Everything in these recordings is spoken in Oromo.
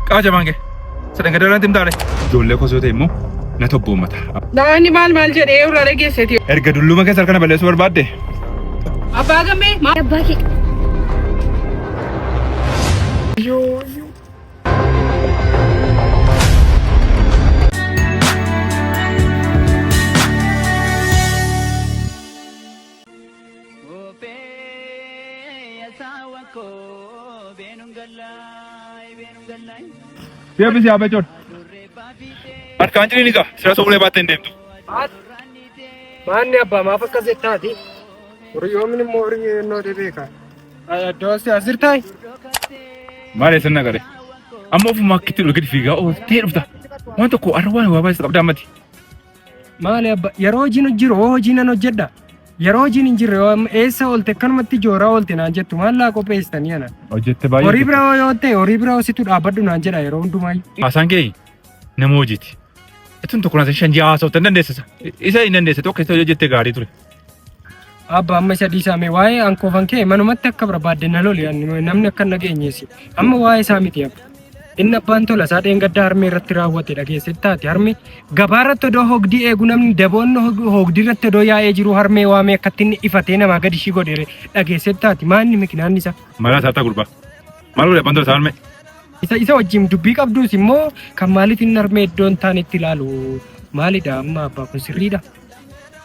Qaa jabaan kee. Sadhan gadaa irratti himtaale. Ijoollee kosoo ta'e immoo na tobboommata. Daa'imni maal maal jedhee irraa dhageesseti. Erga dulluma keessa harkana balleessuu barbaadde. Abbaa gammee maal. Abbaa kee. Deebisi yaa becoon. Harkaan jirii ni ga'a. Sira soolee baattee hin deemtu. Maanni abbaa maaf akkas jettaati? Horiyoomni immoo horii ennoo dhibeeka. Addoo si as jirtaay? Maal eessan nagare? Amma ofuma akkitti ol gadi fiigaa ooltee dhufta. Waan tokko har'a waan waa baay'isa qabdaa mati. Maali abba yeroo hojiin jiru hoo hojii nan hojjedha. Yeroo hojiin hin jirre hoo amma eessa oolte akkanumatti jooraa oolte naan jettu maallaa qopheessitanii ana. Hojjette Horii baay'ee. bira hoo yoo ta'e horii bira hoositu dhaabbadhu naan jedha yeroo hundumaayyuu. Haasaan kee nama hojiiti. Itun tokko nasa shan ji'a haasoftan dandeessisa. Isa hin dandeessa tokko isa hojjette gaarii ture. Abba amma isa dhiisaa mee waa'ee ankoofan kee manumatti akka barbaadde na loli ani namni akka hin dhageenyeessi. Amma waa'ee isaa miti abba. Inni abbaan tola isaa dheengaddaa harmee irratti raawwate dhageessetti taate harmee gabaa irratti odoo hogdii eegu namni daboonni hog- hogdii irratti odoo yaa'ee jiru harmee waamee akkatti inni ifatee namaa gadi ishii godheere dhageessetti taate maanni mikinaan isaa. Maraa isaa ta'aa gurbaa. Maal godhe abbaan tola isaa harmee? Isa isa wajjin dubbii qabduus immoo kan maaliif inni harmee iddoon taanitti ilaalu maalidha amma abbaa kun sirriidha.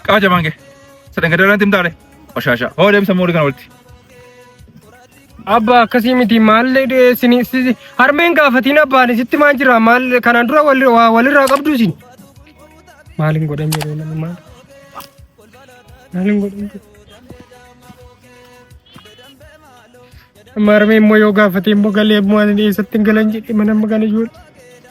Qaama jabaan kee. Sadan gadaa irratti himtaale. Bashaashaa. Hoo deebisa moolii kana walitti. Abba akkasii miti maal isin isin- harmeen gaafatiin abbaan isitti maal jira maal kanaan dura wal- waa walirraa qabdu isin. Maal hin godhan jedhee namni maal. Maal hin godhan jedhee. Amma harmeen immoo yoo gaafatee immoo galee immoo ani eessatti hin galan jedhee mana amma gala ijoollee.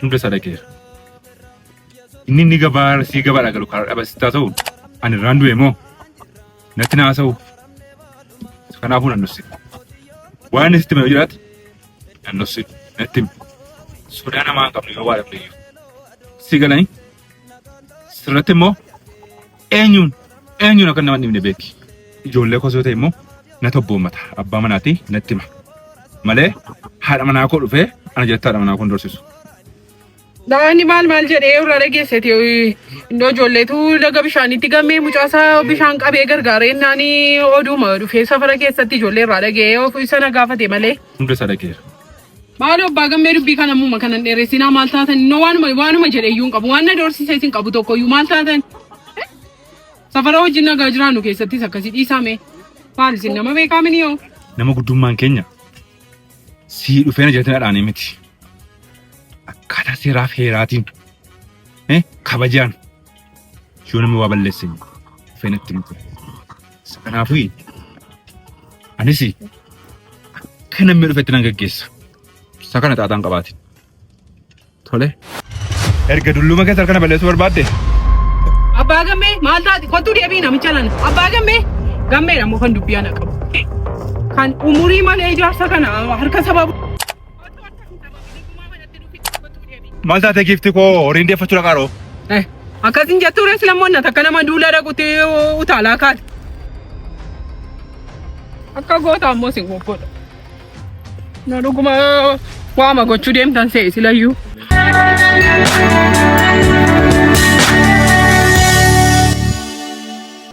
Hunda isaa dhaqeera. Inni inni gabaa sii gabaa dhagalu karaa dhaba sitti haa ta'u ani irraan du'e moo natti na haasa'u. Kanaafuu nan dhosse. Waan inni sitti hime yoo jiraate nan dhosse natti hime. Sodaa namaa hin qabne yoo waa dhabne iyyuu. Si galanii sirratti immoo Eenyuun eenyuun akka nama hin dhibne beeki. Ijoollee koos yoo ta'e immoo na tobboommata. Abbaa manaatii natti hima. Malee haadha manaa koo dhufee ana jalatti haadha manaa koo hin dorsisu. Daa'imni maal maal jedhee irraa dhageesseti iddoo ijoolleetu laga bishaanitti gammee mucaasaa bishaan qabee gargaaree innaan oduuma dhufee safara keessatti ijoollee irraa dhaga'ee of isa na gaafate malee. Hunda isaa dhageera. Maaloo abbaa gammee dubbii kana ammuma kanan dheeressinaa maal taatan innoo waanuma waanuma jedhe iyyuu hin qabu waan na doorsisees hin qabu tokko iyyuu maal taatan safara wajjin nagaa jiraannu keessattis akkasii dhiisaame maal isin nama beekaa mini yoo Nama guddummaan keenya sii dhufee na jiratin adhaanii miti. Akkaataa seeraa fi heeraatiin eh, kabajaan Yoo namni waa balleessin dhufee natti himtu. Kanaafuu anis akka namni dhufetti nan gaggeessa. Isa kana xaaxaan qabaate. Tole. Erga dulluma keessa harka na balleessuu barbaadde. Abbaa gammee maal taate kottuu deebii namicha nana. Abbaa gammee gammeedha moo kan dubbii ana qabu. Kan umurii malee ijaarsa kana harka sababa. Otoo akka hin dhabamini gumaa manatti nu fidda kottuu deebi. Maal taate giifti koo horiin deeffachuu dhaqaa dhoo? Eh, akkasin jettuu rees lammoonna takka nama duula dhaqutti utaalaa kaate. Akka goota ammoo sin goggodha. Na dhuguma waama gochuu deemtan se'e silayyuu.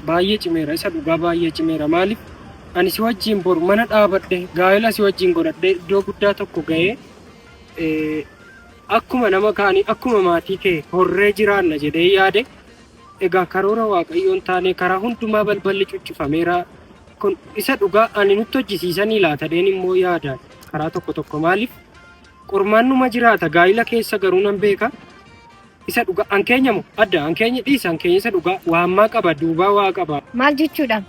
Baay'ee cimeera isa dhugaa baay'ee cimeera maaliif Ani si wajjin bor mana dhaabadhe gaa'ela si wajjin godhadhe iddoo guddaa tokko ga'ee eh, akkuma nama kaanii akkuma maatii kee horree jiraanna jedhee yaade egaa karoora waaqayyoon taane karaa hundumaa balballi cuccifameera kun isa dhugaa ani nutti hojjisiisanii laatadheen immoo yaada karaa tokko tokko maaliif qormaannuma jiraata gaa'ila keessa garuu nan beeka isa dhugaa an keenya moo adda an keenya dhiisa an keenya isa dhugaa waammaa qaba duubaa waa qaba Maal jechuudha?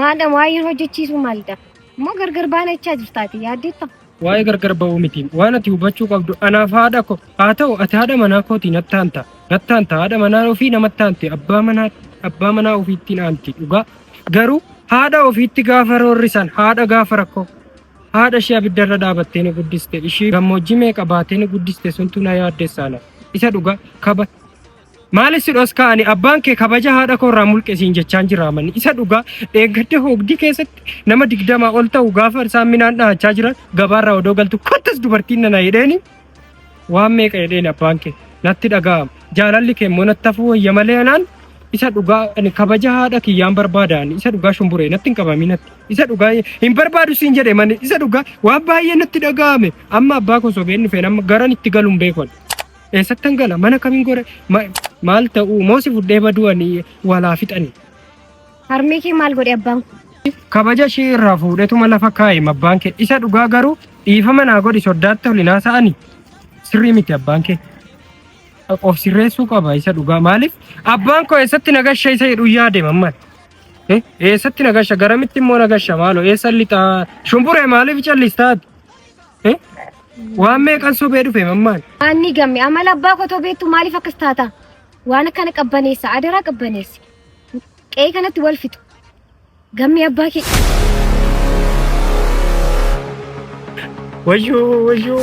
Maadam waayeen hojjechiisuu maalidha? Moo gargar baana jechaa jirta ati yaaddeetta? Waa'ee gargar ba'uu miti. Waan ati hubachuu qabdu anaaf haadha ko. Haa ta'u ati haadha manaa kooti natti aanta. Natti aanta haadha manaa ofii namatti aanti abbaa manaa abbaa manaa ofiitti hin aanti dhugaa. Garuu haadha ofiitti gaafa roorrisan haadha gaafa rakkoo haadha ishee abidda irra dhaabattee ni guddiste ishii gammoojjii meeqa baatee ni guddiste suntu na yaaddessaana isa dhugaa kaba Maali si dhoskaa ani abbaan kee kabaja haadha koo irraa mulqe siin jechaan jira manni isa dhugaa dheengadde hoogdii keessatti nama digdamaa ol ta'u gaafa isaan minaan dhahachaa jiran gabaarraa odoo galtu kottas dubartiin nana jedheeni waan meeqa jedheeni abbaan kee natti dhaga'ama jaalalli kee immoo natti hafuu wayya malee anaan isa dhugaa ani kabaja haadha kiyyaan barbaada ani isa dhugaa shumburee natti hin qabamii natti isa dhugaa hin barbaadu siin jedhe manni isa dhugaa waan baay'ee natti dhaga'ame amma abbaa koo sobeen dhufeen amma garan itti galuun beekon Eessattan gala mana kamin gore ma- maal ta'uu moo si fudhee baduu ani walaa fixanii. Harmee kee maal godhe abbaan kun? Kabaja ishee irraa fuudhetuma lafa kaa'e mabbaan kee isa dhugaa garuu dhiifama naa godhi soddaatti ol hin haasa'ani. Sirrii miti abbaan kee. Of sirreessuu qaba isa dhugaa maaliif abbaan koo eessatti nagasha isa jedhu yaade mamman. Eh, Eessatti nagasha garamitti immoo nagasha maaloo eessa lixaa shumburee maaliif callistaati? Waan meeqan sobee dhufe mammaan. Anni gamme amala abbaa kotoo beektu maaliif akkas taata? Waan akkana qabbaneessa adaraa qabbaneessi. Qe'ee kanatti wal fixu. Gammee abbaa kee. Wayyoo wayyoo.